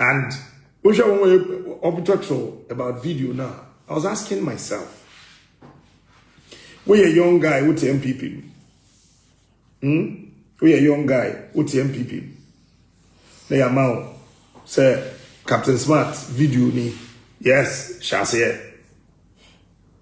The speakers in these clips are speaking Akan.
And wohwɛ wɔn wɔyɛ ɔbɛtɔ so about video now. I was asking myself woyɛ young guy wote npp mu hmm woyɛ young guy wote npp mu na yɛ ama wo sɛ captain smart video ni yes hyɛ aseɛ.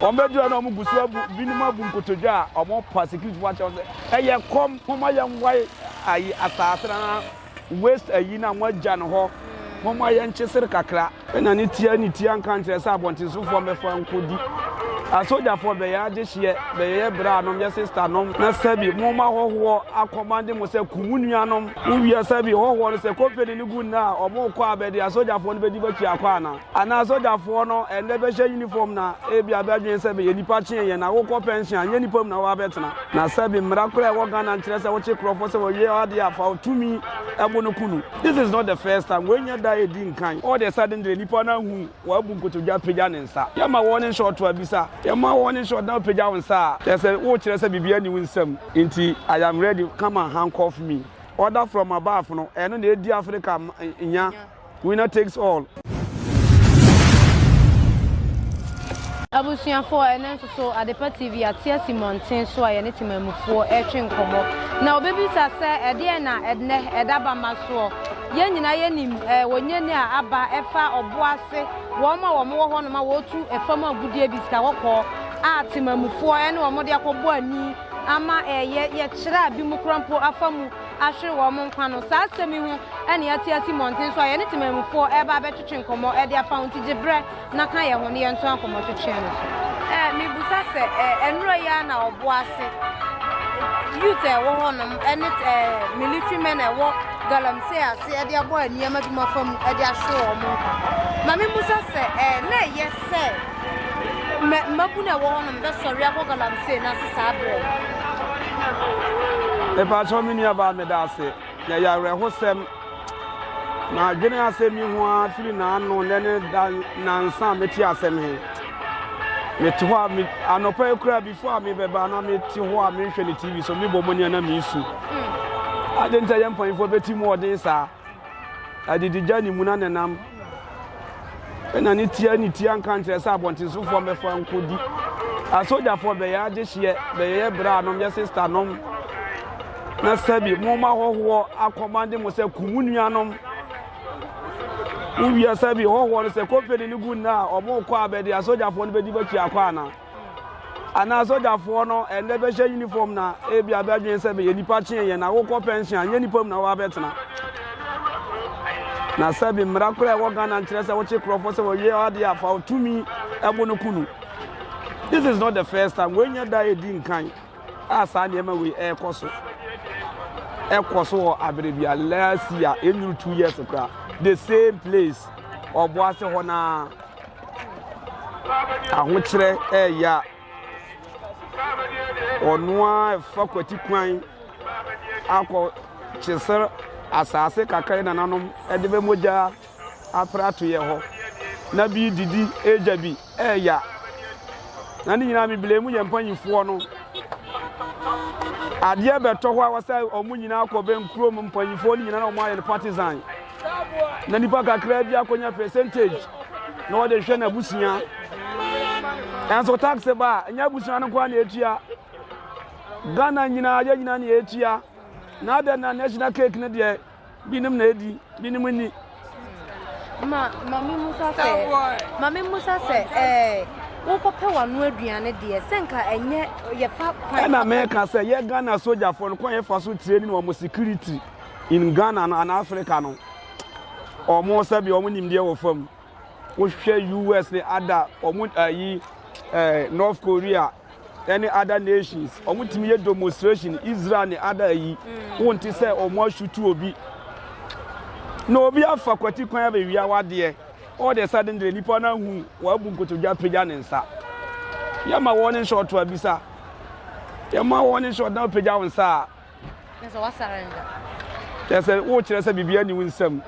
Wɔbɛgyina na wɔgu so abu binom abu nkotodwe a wɔrepa security fo akyerɛ wɔn sɛ ɛyɛ kɔm momma yɛnwae ayi asaase no na waste ayi na wɔagya no hɔ momma yɛnkye sere kakra. Ɛna ne tia ne tia nka nkyerɛ sɛ abɔntensofoɔ mbɛfa nkɔdi asogyafoɔ bɛyɛ agyehyeɛ bɛyɛyɛ bra nom yɛ sista nom na sɛbi momma hɔhoɔ akɔmande mo sɛ ku mo nuanom wowie sɛbi hɔhoɔ no sɛ kɔmpani no gu nna a wɔkɔ a bɛde asogyafoɔ no bɛdi bɛtua kɔ ana Anaa sogyafoɔ no ɛnnɛ bɛhyɛ uniform na ebia bɛdwene sɛ bɛyɛ nipa kyen yɛn na wokɔ pension a nyɛ nipa mu na woabɛtena na sɛbi mmara kora ɛwɔ Ghana nkyerɛ sɛ wokye korɔfoɔ sɛ wɔwie w'adeɛ a fa tumi ɛbo no ku no this is not the first time wei nyɛ da ɛdi nkan all the sudden deɛ nipa no ahu wabu nkotodwa pagya ne nsa yɛma wɔn ne nhyɛ ɔto abisa yɛma wɔn ne nhyɛ ɔdan pagya wo nsa a kyerɛ sɛ wokyerɛ sɛ biribi ani wo nsam nti I am ready come and handcuff me order from above no ɛno na ɛdi Africa nya Winner takes all. Abusuafo a ɛnɛ nso so Adepa TV ate asi mmɔnten so a yɛne temanmufoɔ retwe nkɔmmɔ na wɔbɛbisa sɛ ɛdeɛn na ɛnɛ ɛda bama soɔ. Yɛn nyinaa yɛnim eh, wɔnyɛni a aba ɛfa ɔbo ase wɔn a wɔn wɔ hɔnom a wɔretu ɛfam agudeɛ bi sika kɔkɔɔ a temanmufoɔ ɛne wɔn de akɔbɔ ani ama ɛyɛ yɛkyerɛ a bi mu kora mpo afa mu ahwere wɔn nkwa no. Saa asɛm yi ho na yɛate asi mmɔnten so a yɛne temammufoɔ reba abɛtwetwe nkɔmmɔ de afa ho nti gye berɛ na ka yɛn ho ne yɛntoa nkɔmmɔtwetwe no so. Eh, mebusa sɛ eh, ɛnora yi ara na ɔbo ase eh, youth a ɛwɔ hɔnom ɛne eh, military men a ɛwɔ galamsey ase ɛde abɔ nneɛma bi mu afa mu ɛde ahwere wɔn nkwa. Ma mebusa sɛ eh, na ɛyɛ sɛ Mɛ mmabunu a ɛwɔ hɔnom bɛsɔre akɔ galamsey no ase saa berɛ no. Mepakyɛw me nuabaa meda ase na ɛyɛ awerɛhosɛm madwene asɛm yi ho ara firi n'ano nnɛ ne da nansa a mete asɛm he mete hɔ a anɔpa yi koraa bifo a mebɛba na mete hɔ a menhwɛ ne tv so mebɔ mu nea na mesu hmm. ade nta yɛ mpanyimfoɔ bɛti mu ɔden saa Adidegya ne muna na nam na ne tia ne tia nka nkyerɛ sɛ abɔntensofoɔ mmɛfa nkɔdi asogyafoɔ bɛyɛ agyehyeɛ bɛyɛ berɛ a nom yɛ sista nom na sɛbi moma hɔhoɔ akɔmande mo sɛ ku mo nuanom wowia sɛbi hɔhoɔ no sɛ kɔmpani no gu nna a ɔmo kɔ a bɛde asogyafoɔ no bɛdi bakyi akɔ anaa anaa sogyafoɔ no ɛnɛ bɛhyɛ uniform na ebi abɛdwen sɛ bɛyɛ nipa kyeɛ yɛn na wokɔ pension anyɛ nipa mu na wɔabɛtena na sɛbi mmara koraa ɛwɔ ghana nkyerɛ sɛ wokye kurɔfoɔ sɛ wɔwie adeɛ afa ɔtumi ɛbo no kunu this is not the first time wɔnyɛ da ɛdi nkan a saa nneɛma wei ɛrekɔ so ɛkɔ so wɔ abere bi a last year ɛnyuru two years koraa the same place ɔboase hɔ naa ahokyerɛ ɛɛyɛ a ɔno ara fa kwati kwan akɔ kyesɛ asaase kakra nananom ɛde bɛ mogya apra to yɛ hɔ na bi didi ɛgya bi ɛɛya na ne nyinaa mebilɛ mu yɛ mpanyifoɔ no adeɛ bɛtɔ hɔ a wɔsɛ wɔn nyinaa kɔ bɛn kurom mpanyifoɔ no nyinaa na wɔn ayɛ no partisan. na nipa kakra bi akɔnya percentage na wɔde hwɛ n'abusua nanso tax ba a ɛnyɛ abusua no nkoa na ɛtua ghana nyinaa yɛ nyinaa na yɛtua na adɛn na national cake no deɛ binom na ɛdi binom nni ma maame musa sɛ maame musa sɛ ɛɛ wokɔpɛ wano aduane deɛ sɛ nka ɛnyɛ yɛfa kwan ɛna meka sɛ yɛ ghana sogyafoɔ no kwan yɛfa so tire ne wɔn security in Ghana no anaa Africa no, wɔn sɛbi wɔn nimdeɛ wɔ fam. Wohwɛ US ne ada wɔn ayi ɛɛ North Korea ɛne other nations wɔn tumi yɛ demonstration Israel ne ada ayi. Mm. Wɔn ti sɛ wɔn asutu obi. Na obi afa kwati kwan abɛwia wadeɛ. All the sudden de nipa no ahu wabu nkotodwe apagya ne nsa. Yɛma wɔn ne nhyɛ ɔto abisa. Yɛma wɔn ne nhyɛ ɔdan apagya wɔn nsa a. Kyerɛ sɛ wokyerɛ sɛ biribiara nni wo nsam.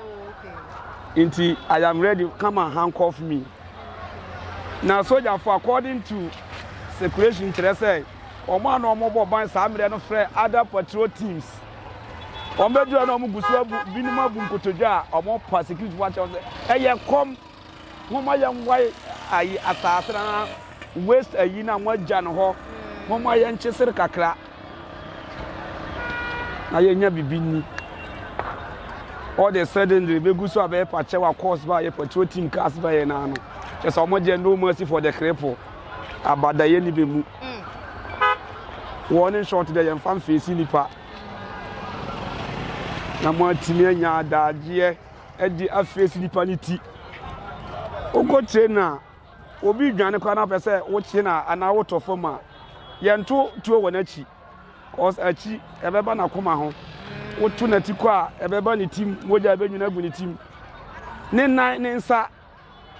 Nti I am ready, come and handcuff me. Na sogyafo according to circulation kyerɛ sɛ wɔn a na wɔbɔ ban saa mmerɛ no frɛ other patrol teams. Wɔbɛduru a na wɔgu so abu binom abu nkotodwe a wɔpa security fo akyerɛ sɛ ɛyɛ kɔm. Homma yɛmboae ayi asaase no na waste ayi no a moagya no hɔ. Homma yɛnkye sere kakra na yɛnya biribi nni. All the sudden de bɛgu so a bɛyɛ pakyɛ wa course ba yɛ patrol team cars ba yɛ naa no. Kyɛ sɛ wɔn deɛ no mercy for the cripple. Abada yɛ ni bɛ mu. Wɔn ne short deɛ yɛmfa mfeesi nipa. Na moatumi anya adagyeɛ. ɛde afesi nipa no ti. Wokɔtie no a, obi dwane koraa na wopɛ sɛ wokye no anaa wotɔ fam a, yɛnto tuo wɔ n'akyi. Cause akyi ɛbɛba n'akoma ho. Woto n'ati kɔ a, ɛbɛba ne tim, mogya ɛbɛnwini agu ne tim. Ne nan, ne nsa,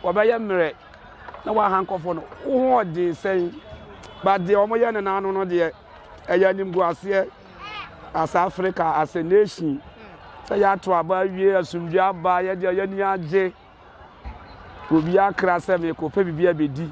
Wɔbɛyɛ mmerɛ na wɔaha nkurɔfoɔ no hoɔden sɛn? But deɛ wɔyɛ no n'ano no deɛ, ɛyɛ animguaseɛ. As Africa, as a nation, sɛ yɛato aba awie, asomdwe aba, yɛde yɛn ani agye, obi akra sɛ merekɔpɛ biribi abɛdi.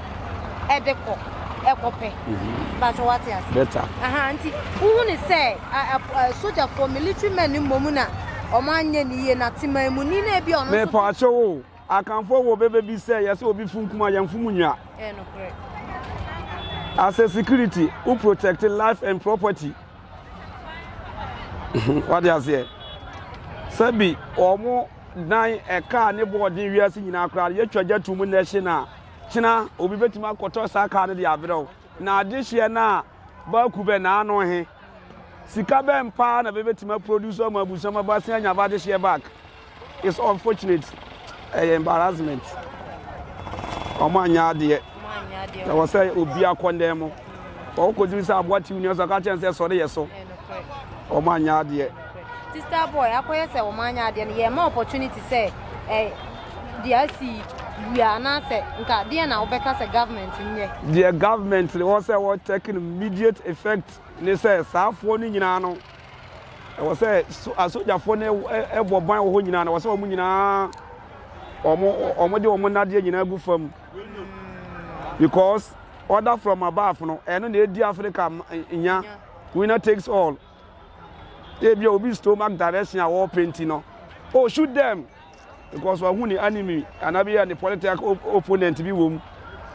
ɛde kɔ ɛkɔpɛ bàtò wate ase bɛta aha nti wohu ne sɛ sogyafoɔ military men mmom na wɔn anyɛ ne yie na teman mu ni na ebi ɔno nso. mepɔ akyɛw o akanfoɔ wɔ bɛbɛ bi sɛ yɛsɛ obi fun kuma yɛn fun mu nwa. ɛɛ nokorɛ. as a security who protect life and property wade aseɛ sɛbi wɔn dan ɛkaa ne bɔɔden wiase nyinaa koraa yɛtwa gya tum na ɛhye na. Kyena obi betumi akɔtɔ saa kar no de abrɛ wo, na adehyeɛ no a bɛaku bɛ na ano he, sika bɛn paa na bɛbɛtumi aproduce ama abusua ma bɛasen anya bɛ adehyeɛ back? It's unfortunate. Ɛyɛ embarrassment. Wɔn anyɛ adeɛ. Ɛwɔ sɛ obi akɔndɛn mo. Wɔkɔduru sɛ aboa tiw nua so aka kyɛn sɛ sɔre yɛ so. Wɔn anyɛ adeɛ. Sister boy akɔyɛ sɛ wɔn anyɛ adeɛ no yɛ ma opportunity sɛ ɛ deɛ asi wia anaasɛ nka deɛ na wobɛka sɛ government nyɛ. Deɛ government no wɔ sɛ wɔ take no immediate effect ne sɛ saa foɔ no nyinaa no ɛwɔ sɛ asogyafoɔ no ɛbɔ ban wɔ hɔ nyinaa no wɔ sɛ wɔn nyinaa wɔn wɔn de wɔn nadeɛ nyinaa gu fam because order from above no ɛno na edi Africa nya winner takes all. Ebia obi stomach direction a ɔrepɛ nti no, oh shoot them because wahu ne enemy anaa bi yɛ ne political opponent bi wɔ mu.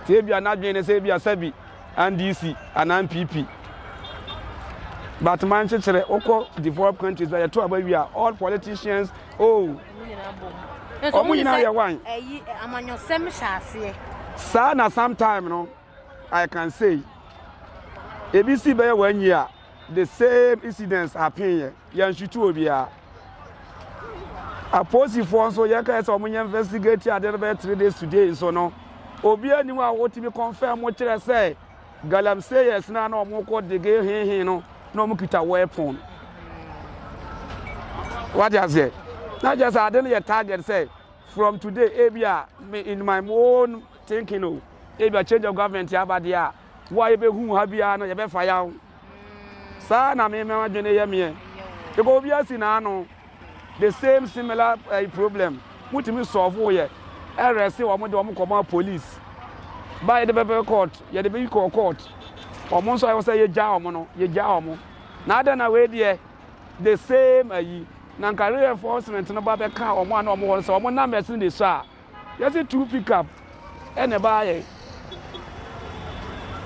Sɛ ebia n'adwene ne sɛ ebia sɛbi NDC anaa NPP. But man kyekyere wokɔ developed countries bɛ yɛto aba wie a all politicians oh ɔmo nyinaa yɛ wan. Ɛyi amanyɔsɛm hyɛ aseɛ. Saa na sometime no I can say ebi si bɛyɛ wɔn anyi a. The same incidents happen yɛ yɛnhwete obiara apolisifoɔ nso yɛka sɛ wɔnyɛ investigate adeɛ no bɛyɛ three days today nso no obi anim a wɔtumi confirm mo kyerɛ sɛ galamsey yɛ sena na wɔn kɔ dege hehe no na wɔn kita weapon wate aseɛ na kyerɛ sɛ ade no yɛ target sɛ from today ebi a in my own thinking o ebi a change of government aba deɛ a Wo a yɛbɛhu wo ha biara no, yɛbɛfa yaw. Saa na me m'adwene yɛ meɛ. Because obi asi n'ano. The same similar uh, problem. Mutumi solve wo yɛ. Ɛrɛse wɔn de wɔn kɔma police. Ba yɛde bɛbɛ court, yɛde bɛyi kɔ court. Wɔn nso ayɛ sɛ yɛgya wɔn no, yɛgya wɔn. Na adɛn na wei deɛ the same ayi. Na nka reinforcement no ba bɛka wɔn a na wɔn hɔ no sɛ wɔn numbers no de sɔ a. Yɛse two pickup na ɛbaayɛ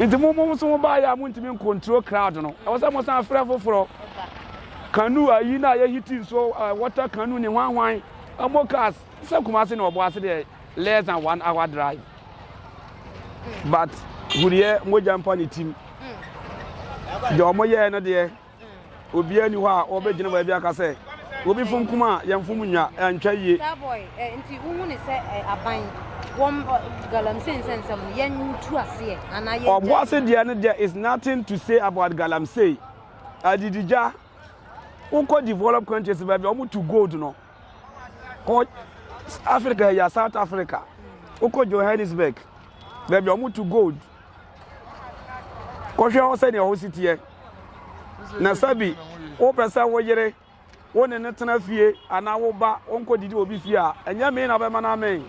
nti mo mo nso mo baayɛ a mo ntumi nkontrol crowd no ɛwɔ sɛ mo san frɛ foforɔ kanu ayi na yɛ hiti nsuo uh, water kanu ne hwanhwan ɛmo cars sɛ Kumasi na ɔbɔ ase deɛ less than one hour drive but huriɛ mogya mpa ne tim deɛ ɔmo yɛɛ no deɛ. Obiara ni hɔ a ɔbɛgyina baabi aka sɛ obi fom kum a yɛmfom nya antwa yie. Eh, nti wohu ne sɛ eh, aban wɔm galamsey nsɛnsɛm no yɛntu aseɛ anaa yɛgya ɔbo ase deɛ no deɛ is nothing to say about galamsey adidigya wokɔ developed countries baabi a wɔto gold no kɔ africa yɛ ya south africa wokɔ johannesburg baabi a wɔtu gold kɔhwɛ hɔ sɛdeɛ hɔ si teɛ na sɛbi wopɛ sɛ wo yere wo ne no tena fie anaa wo ba wonkɔdidi obi fie a ɛnyɛ me na bɛma no amɛn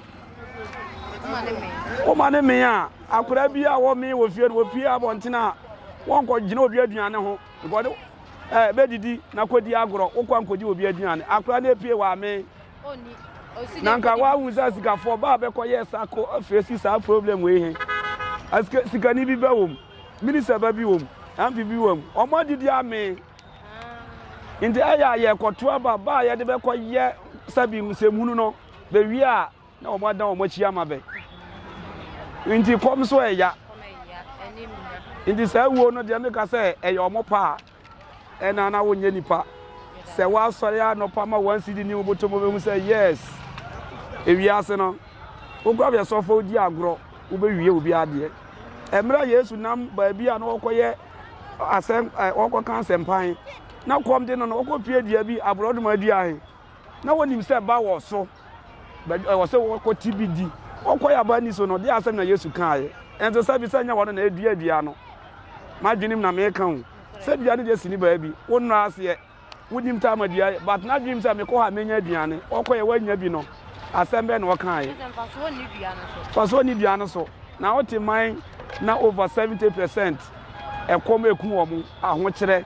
woma ne me a akora bi a wɔme wɔ fie no wɔpie abɔntene a wɔnkɔgyina obi aduane ho Nkɔ ne eh, bɛdidi na kɔdi agorɔ, wokɔ ankɔgye obi aduane, akora no apue w'amee. Na nka woahu sɛ asikafoɔ baa bɛkɔyɛ sako afei si saa problem wei he. Asika, sikani bi bɛ wom, minista ba bi wom, MP bi wom, ɔmo adidi amee. Nti ɛyɛ a yɛkɔto aba baa yɛde bɛkɔyɛ sɛbi nsɛmhunu no, bɛwie a Na wɔn adan wɔn akyi ama bɛ. Nti kɔm so ɛya. Nti saa wuo no deɛ meka sɛ ɛyɛ wɔn paa. Ɛna na wonyɛ nipa. Sɛ wɔasɔre anɔpa ma wɔn si di ne woboto mo bɛhu sɛ yes. Ewiase no wokura bɛ sɔfo di agorɔ wobɛwie obi adeɛ. Ɛmmerɛ Yesu nam baabi a na wɔkɔyɛ asɛm wɔkɔka asɛmpan na kɔm de no no wɔkɔpie dua bi aborɔdoma dua he na wɔnim sɛ ba wɔ so, bɛdi ɛwɔ sɛ wɔkɔ ti bi di. Wɔkɔ yɛ aba ni so no, de asɛm na Yesu kaeɛ. Ɛnte sɛ bi sɛ nyɛ wɔn na edua dua no. M'adwenem na meka o. Sɛ dua no deɛ sini baabi, wo nnɔ aseɛ, wonim ta ama dua yɛ, but n'adwenem sɛ mekɔ hɔ a menya aduane. Wɔkɔ yɛ wɔanya bi no, asɛm bɛn na wɔkaeɛ? Fasoɔ ni dua no so. Na wote man na over 70 percent ɛkɔm eku wɔn ahokyerɛ.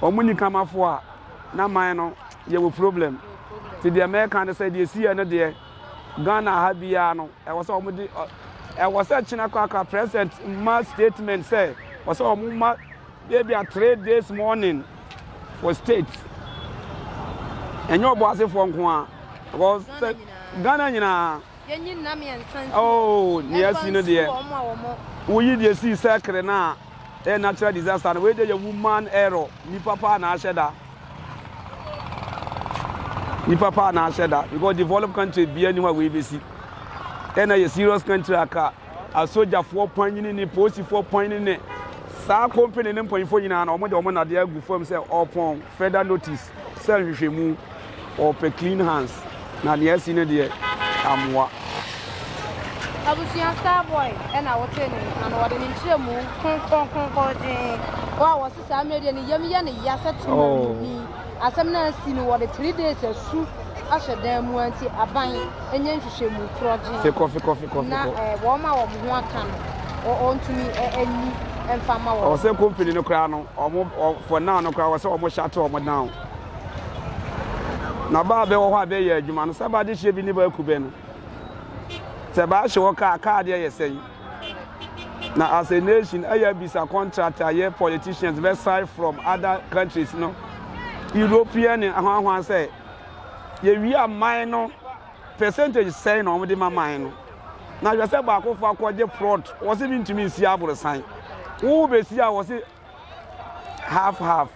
wɔn nyi Kamafoɔ a, na man no yɛwɔ problem. Nti deɛ mɛka ne sɛ deɛ ɛsiiɛ no deɛ, Ghana ha biara no, ɛwɔ sɛ wɔn de, ɛwɔ sɛ kyena korakora president ma statement sɛ, ɛwɔ sɛ wɔn ma ebi a three days morning for state. Ɛnyɛ ɔbɔasefoɔ nko a, because Ghana nyinaa. Yɛnyi nna mmiɛnsa nsi hɔ. Oh, nea asi no deɛ. Ɛfa nsi wɔn a wɔn. Woyi deɛ si sɛkere no a, ɛyɛ natural disaster no. Wei deɛ yɛ woman error. Nipa paa na ahyɛ da. Nipa paa na ahyɛ da because developed country bia ni hɔ a wei besi. Ɛna yɛ serious country aka asogyafoɔ panyini ne polisifoɔ panyini ne saa company ne mpanyinfoɔ nyinaa na wɔn de wɔn nadeɛ agu fam sɛ ɔpɔn further notice. Sɛ nhwehwɛmu, wɔpɛ clean hands na nea asi no deɛ ammoa. Abusua Star Boy na wotee ne nka no, wɔde ne nkyerɛmu kronkron kronkron dwen hɔ a wɔse saa mmerɛ deɛ ne yam yɛ ne ya sɛ temanini. Oh. Asɛm no asi no wɔde three days asu ahyɛ dan mu nti aban nyɛ nhwehwɛmu korɔ dwen fikɔ fikɔ fikɔ na eh, wɔn a wɔn ho aka no wɔntumi eh, ani mfa ma wɔn. Ɔsɛ company no koraa no Ɔmo wɔ fɔ nan no koraa wɔ sɛ ɔmo shate ɔmo nan o. Na baa bɛ wɔ hɔ a bɛ yɛ adwuma no sɛ bade hyeɛ bi ne baa ku bɛ no sɛ baa hye wɔ kaa kaa deɛ yɛ sɛn na as a nation ɛyɛ bisa contract a yɛ politicians bɛ sign from other countries no European ne ahwanhwan sɛ yɛ wia man no percentage sɛn na wɔde ma man no na hwɛ sɛ baako fa kɔgye prot wɔ se mentumi nsi aborosan wo bɛsi a wɔ se half half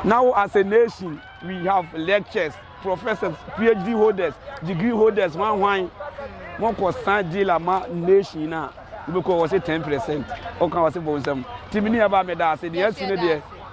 na wo as a nation we have lectures professors phd holders degree holders hwan hwan mokɔ san dealer ma nation no a wobɛkɔ wɔ se ten percent ɔka wɔ se bɔ nsɛm timi ne ɛba meda ase deɛ asi no deɛ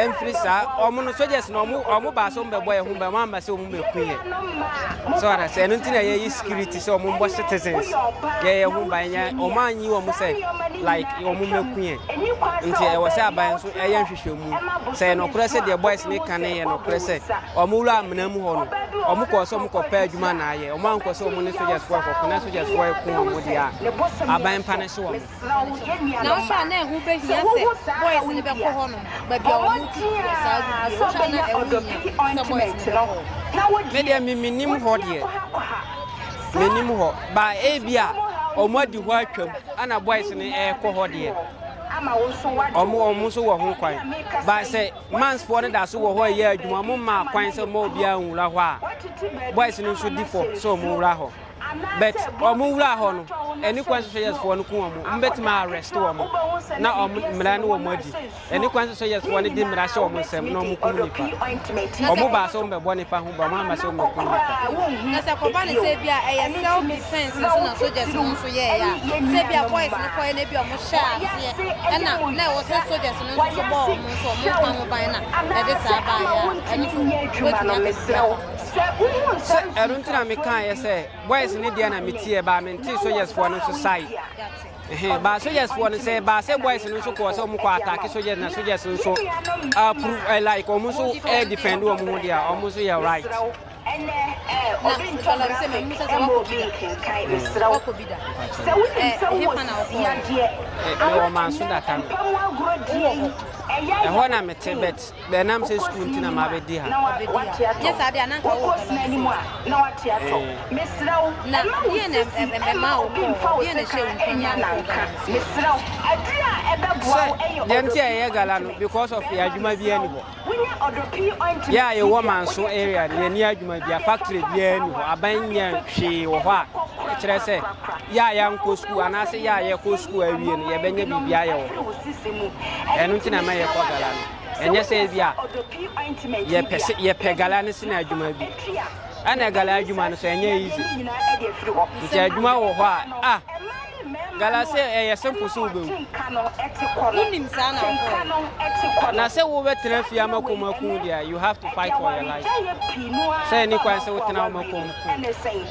ɛmfiri saa wɔn no soldiers no wɔn wɔn baa sɛ wɔn bɛbɔ yɛn ho ban wɔn amba sɛ wɔn bɛku yɛn sɛ wɔn asɛ ɛno nti na yɛyɛ security sɛ wɔn bɔ citizens yɛyɛ ho ban yɛ wɔn anyi wɔn sɛ like wɔn bɛku yɛn nti ɛwɔ sɛ aban nso ɛyɛ nhwehwɛmu sɛ yɛ nɔkorɛ sɛ deɛ boys ne ka ne yɛ nɔkorɛ sɛ wɔn wura amena mu hɔ no wɔn kɔɔ sɛ wɔn kɔpɛ adwuma na ayɛ wɔn ankɔ sɛ wɔn ne soldiers foɔ kɔko na soldiers foɔ ɛko wɔn deɛ a aban pa ne so wɔn. nanso a na ɛho behia sɛ boys no bɛkɔ hɔnom baabi a wɔn tu wɔ saa gu bie wohwɛ na ɛho hia sɛ boys no bɛkɔ hɔ. me deɛ me menim hɔ deɛ menim hɔ ba ebi a wɔn adi hɔ atwam ana boys no ɛrekɔ hɔ deɛ wɔn wɔn nso wɔ ho kwan ba sɛ mansfoɔ no da so wɔ hɔ ɛyɛ adwuma wɔn mmaa kwan sɛ wɔn obiara nwura hɔ a boys no nso di fɔ sɛ wɔn wura hɔ. But wɔn wura hɔ no, ɛne kwan sɛ yes foɔ no ku wɔn, wɔn bɛtumi arrest wɔn, na wɔn mmara ne wɔn adi. Ɛne kwan sɛ yes foɔ no de mmara hyɛ wɔn nsam na wɔn kum nipa. Wɔn baa sɛ wɔn bɛbɔ nipa ho ba, wɔn amma sɛ wɔn bɛkum nipa. Na sɛ kɔba ne sɛ bia ɛyɛ self defense nso na soldiers no nso yɛɛ ya. Sɛ bia boys no kɔɛ na bia wɔn hyɛ aseɛ, ɛna na ɛwɔ sɛ soldiers no nso bɔ wɔn nso wɔn ka ho ban na ɛde saa baayɛ a, ɛno nso wɔbɛtumi akɛse. Sɛ ɛno nti na mekaeɛ sɛ boys ne deɛ na metie baa mentee sogyesfoɔ no nso sae ɛhɛn baa sogyesfoɔ no sɛ baa sɛ boys no nso kɔɔ sɛ wɔn kɔ atake sogyes na sogyes nso approve eh, like wɔn nso eh, defend wɔn ho deɛ wɔn nso yɛ right. ɛnɛ ɛɛ obi ntɔ graphic ɛma obi nkenkan mesrɛ wo sɛ wonim sɛ wowɔ yadeɛ awɔ ɛnɛ mpɛmu agorɔ die yi ɛyɛ ɛhɔ na mete bɛt Bɛ ɛnam sɛ sukuu nti na mabɛdi ha. Nyɛ saa deɛ a na anka wo bɛba me fie hɔ. Na deɛ na ɛma wo kɔɔ hɔ? Deɛ na ɛhyɛɛ wo nkuran ma wo kɔɔ Ghana nti? Sɛ deɛ nti a yɛyɛ Ghana no because of yɛn adwuma biara nni hɔ. Yɛ a yɛwɔ Manso area no yɛnni adwuma biara, factory biara nni hɔ, aban nyɛ hwee wɔ hɔ a ɛkyerɛ sɛ yɛ a yɛankɔ sukuu anaasɛ yɛ a yɛkɔ sukuu awie no yɛbɛnya biribi ayɛ wɔ hɔ. Ɛno nti na ɛma yɛkɔ Ghana no. ɛnyɛ sɛ ebi a yɛpɛ sɛ yɛpɛ gala ne sena adwuma bi ɛna gala adwuma no so ɛnyɛ easy nti adwuma wɔ hɔ a ah gala sɛ ɛyɛ simple so wobɛwu wonim saa na wokɔ na sɛ wobɛtena fie ama kɔm aku deɛ you have to fight for your life sɛ ɛni kwan sɛ wotena woma kɔm ku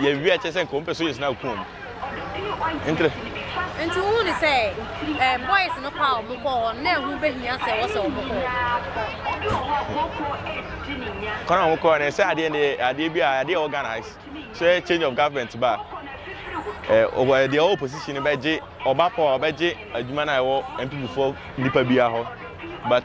Yɛawie a kyerɛ sɛ nka wɔmpɛ sɛ ɔyɛ sini akum wɔn. Ntere. Nti wohu ne sɛ eh, boys no kɔ a wɔn kɔɔ hɔ no na ɛho bɛhia sɛ wɔsɛ wɔn kɔɔ kwan a wɔn kɔɔ no ɛsɛ adeɛ ne adeɛ bi a adeɛ ɛwɔ Ghana sɛ change of government ba eh, ɔwɔ deɛ ɔwɔ opposition no bɛgye ɔba pɔ a ɔbɛgye adwuma no a ɛwɔ mpp foɔ nipa biara hɔ but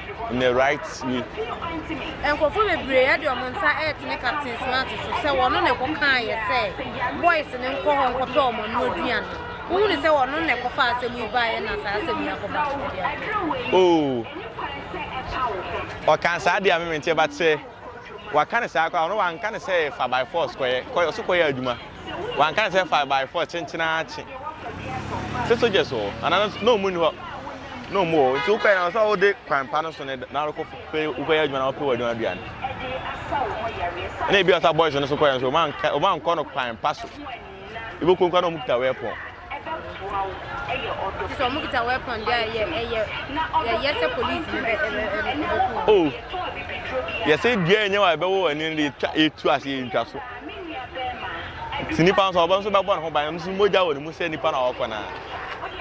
in the right way. Nkurɔfoɔ bebree ɛde wɔn nsa ɛretene Captain Smart so sɛ wɔn na ɛkɔ kaa yɛ sɛ boys ne nkɔ hɔ nkɔpɛ wɔn ano aduane. Wohu ne sɛ wɔn na ɛkɔ fa asɛm yi baeɛ na saa asɛm yi akɔ ba. Oo ɔka saa deɛ a memente ba sɛ waka ne saa kɔ a ɔno wanka ne sɛ fa by force kɔyɛ kɔyɛ ɔso kɔyɛ adwuma. Wan kan sɛ five by four kyenkyen ara kye. Sɛ soldiers wɔ hɔ anaa na ɔmo ni hɔ na ɔmo wɔ hɔ nti wokɔɛ na ɔsɛ ɔde kwan pa no so ne na ɔrekɔ pɛ wokɔyɛ adwuma na ɔpɛ wɔ adwuma aduane. Ɛna ebi ɔsa boys no so kɔyɛ nso ɔmo ankɔ no kwan pa so. Ibo kɔnkɔ na ɔmo kita wɛpɔn. ɛbɛboa wo ɛyɛ ɔdɔ Kyerɛ sɛ wɔn kita weapon deɛ a yɛ ɛyɛ yɛyɛ sɛ police ne bɛ ɛbɛ ɛbɛ ɛbɛku wɔn. Oh yɛsɛ dua ɛnyɛ wa ɛbɛwɔ wɔ ɛni de etwa etu ase yɛ ntwa so. Ti nipa nso ɔbɛ nso bɛbɔ ne ho ban ɛmu nso mogya wɔ ne mu sɛ nipa na ɔkɔ na.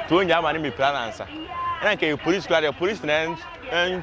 To nyɛ ama ne mepira nansa. Ɛna nka yɛ police kura deɛ police na ɛn ɛn